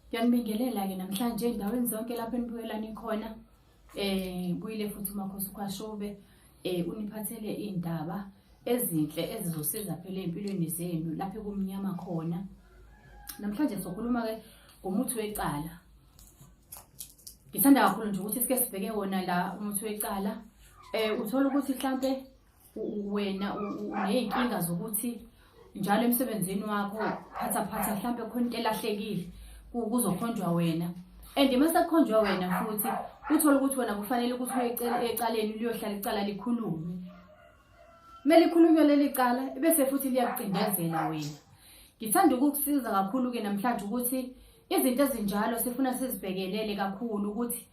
Ngiyanibingelela-ke namhlanje endaweni zonke lapho enibuyelani khona um buyile futhi umakhosi ukhwashobe um uniphathele iy'ndaba ezinhle ezizosiza phela ey'mpilweni zenu lapho kumnyama khona namhlanje sokhuluma-ke ngomuthi wecala ngithanda kakhulu nje ukuthi sike sibheke wona la umuthi wecala um uthole ukuthi mhlampe wena uney'nkinga zokuthi njalo emsebenzini wakho phathaphatha mhlawumbe khona into elahlekile kuzokhonjwa wena and uma sekukhonjwa wena futhi uthole ukuthi wena kufanele ukuthi uye ecaleni liyohlala icala likhulume kumele ikhulunywe leli cala bese futhi liyakucindezela wena ngithanda ukukusiza kakhulu-ke namhlanje ukuthi izinto ezinjalo sifuna sizibhekelele kakhulu ukuthi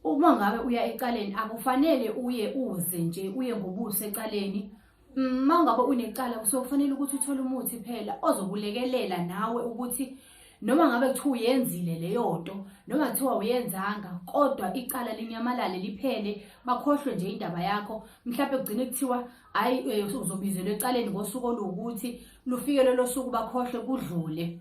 Uma ngabe uya ecaleni akufanele uye uze nje uye ngobuso ecaleni uma mm, ngabe unecala kusokufanele ukuthi uthole umuthi phela ozokulekelela nawe ukuthi noma ngabe kuthiwa uyenzile leyo nto noma kuthiwa uyenzanga kodwa icala linyamalale liphele bakhohlwe nje indaba yakho mhlawumbe kugcine kuthiwa hhayi eh, uzobizelwa ecaleni ngosuku oluwukuthi lufike lolo suku bakhohlwe kudlule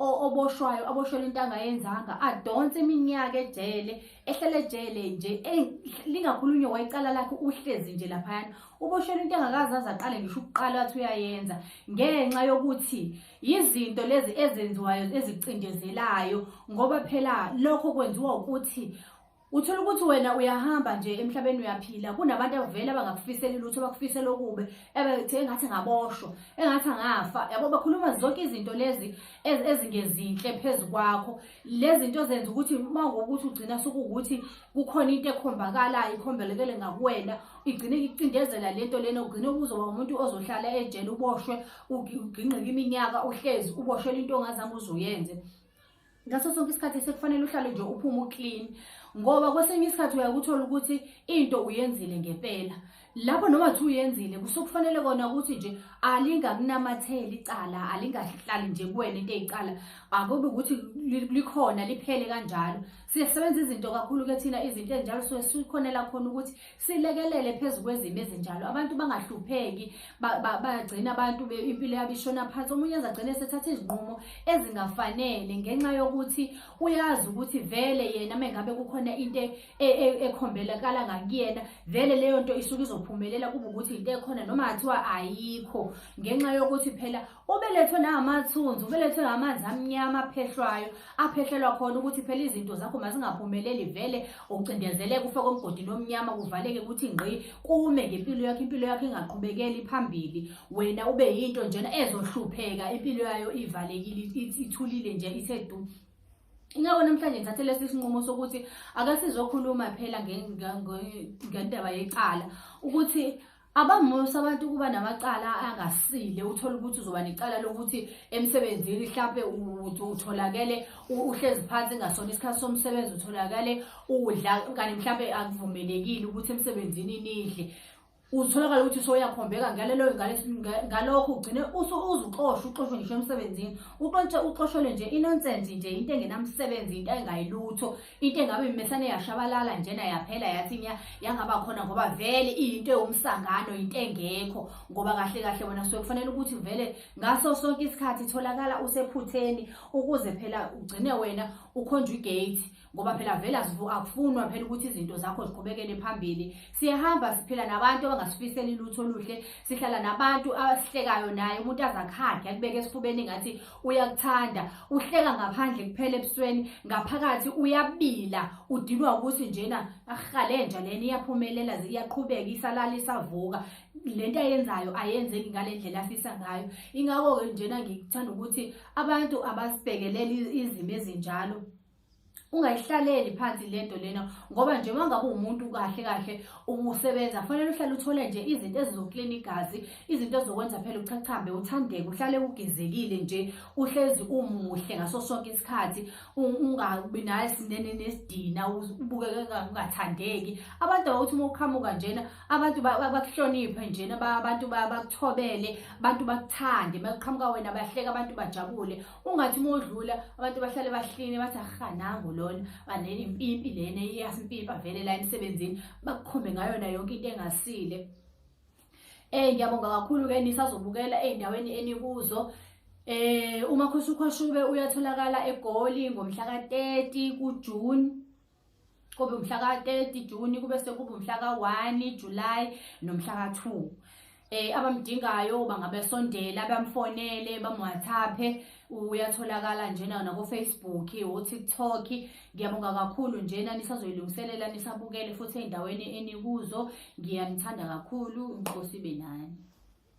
oboshwayo aboshwele into angayenzanga adonse iminyaka ejele ehlele ejele nje lingakhulunywa wayicala lakhe uhlezi nje laphayana uboshwele into engakazi aze aqale ngisho ukuqala wathi uyayenza ngenxa yokuthi yizinto lezi ezenziwayo ezicindezelayo ngoba phela lokho kwenziwa ukuthi Uthola ukuthi wena uyahamba nje emhlabeni uyaphila kunabantu abavele abangakufiseli lutho bakufisela okubi ebethe engathi ngaboshwa engathi angafa yabo bakhuluma zonke izinto lezi ezingezinhle phezu kwakho lezi zinto zenza ukuthi uma ngokuthi ugcina sokuwukuthi kukhona into ekhombakalayo ikhombelekele ngakuwena igcine icindezela lento lena ugcine ukuzoba umuntu ozohlala ejele uboshwe ugingqike iminyaka uhlezi uboshwela into ongazange uzuyenze ngaso sonke isikhathi sekufanele uhlale nje uphume uclean ngoba kwesinye isikhathi uyakuthola ukuthi into uyenzile ngempela lapho noma thi uyenzile kusokufanele kona ukuthi nje alingakunamatheli icala alingahlali nje kuwena into eyicala akube ukuthi likhona liphele kanjalo sisebenza izinto kakhulu ke thina izinto ezinjalo so sikhonela khona ukuthi silekelele phezu kwezimo ezinjalo abantu bangahlupheki bagcina abantu impilo yabo ishona phansi omunye enza agcine esethatha izinqumo ezingafanele ngenxa yokuthi uyazi ukuthi vele yena mengabe kukhona into e, e, ekhombelakala ngakuyena vele leyo nto isuke izophumelela kube ukuthi into ekhona noma kuthiwa ayikho ngenxa yokuthi phela ubelethwe nangamathunzi ubelethwe ngamanzi amnyama aphehlwayo aphehlelwa khona ukuthi phela izinto zakho mazingaphumeleli vele ucindezeleke ufe komgodini omnyama kuvaleke ukuthi ngqi kume ngempilo yakho impilo yakho ingaqhubekeli phambili wena ube yinto njena ezohlupheka impilo yayo ivalekile ithulile nje ithe du Ingakho namhlanje ngithathe lesi sinqumo sokuthi akasizokhuluma phela ngendaba yecala ukuthi Abangxosi abantu ukuba namacala angasile uthola ukuthi uzoba necala lokuthi emsebenzini mhlampe utholakele uhlezi phansi ngasona isikhathi somsebenzi utholakale udla kanti mhlampe akuvumelekile ukuthi emsebenzini nidle uzitholakala ukuthi soyakhombeka ngalelo ngalokho ugcine uzuxoshwa uxoshwe ngisho emsebenzini uxoshele nje inonsense nje into engenamsebenzi into engayilutho into engabe imesane yashabalala njena yaphela yathi nya yangaba khona ngoba vele iyinto ewumsangano into engekho ngoba kahle kahle wena suke kufanele ukuthi vele ngaso sonke isikhathi itholakala usephutheni ukuze phela ugcine wena ukhonjwa igate ngoba phela vele akufunwa phela ukuthi izinto zakho ziqhubekele phambili Siyahamba siphila nabantu abangasifiseli lutho oluhle, sihlala nabantu abasihlekayo naye umuntu azakhakhe akubeke esifubeni ngathi uyakuthanda, uhleka ngaphandle kuphela ebusweni, ngaphakathi uyabila, udinwa ukuthi njena ahalenja lena iyaphumelela iyaqhubeka isalala isavuka. Lento ayenzayo ayenzeki ngalendlela afisa ngayo. Ingakho ke njena ngikuthanda ukuthi abantu abasibhekelele izimo ezinjalo ungayihlaleli phansi lento lena ngoba nje uma ngabe umuntu kahle kahle usebenza kufanele uhlale uthole nje izinto ezizoklina igazi izinto ezokwenza phela uchachambe uthandeke uhlale ugezekile nje uhlezi umuhle ngaso sonke isikhathi ungabi naye sinene nesidina ubukeke ungathandeki abantu abakuthi uma uqhamuka njena abantu bakuhloniphe njena abantu bakuthobele abantu bakuthande uma kuqhamuka wena bahleke abantu bajabule ungathi uma udlula abantu bahlale bahline bathi aha nangu lona baneni impimpi lena iyasimpimpi avele la emsebenzini bakukhombe ngayona yonke into engasile Eh ngiyabonga kakhulu ke nisazobukela endaweni enikuzo Eh uMakhosi uKhoshube uyatholakala eGoli ngomhla ka-30 kuJune kube umhla ka-30 juni kube sekuba umhla ka-1 julayi nomhla ka-2 um eh, abamdingayo bangabesondela bamfonele bamwhathaphe uyatholakala njena nakofacebook otiktok ngiyabonga kakhulu njena nisazoyilungiselela nisabukele futhi ey'ndaweni enikuzo ngiyanithanda kakhulu inkosi ibe nani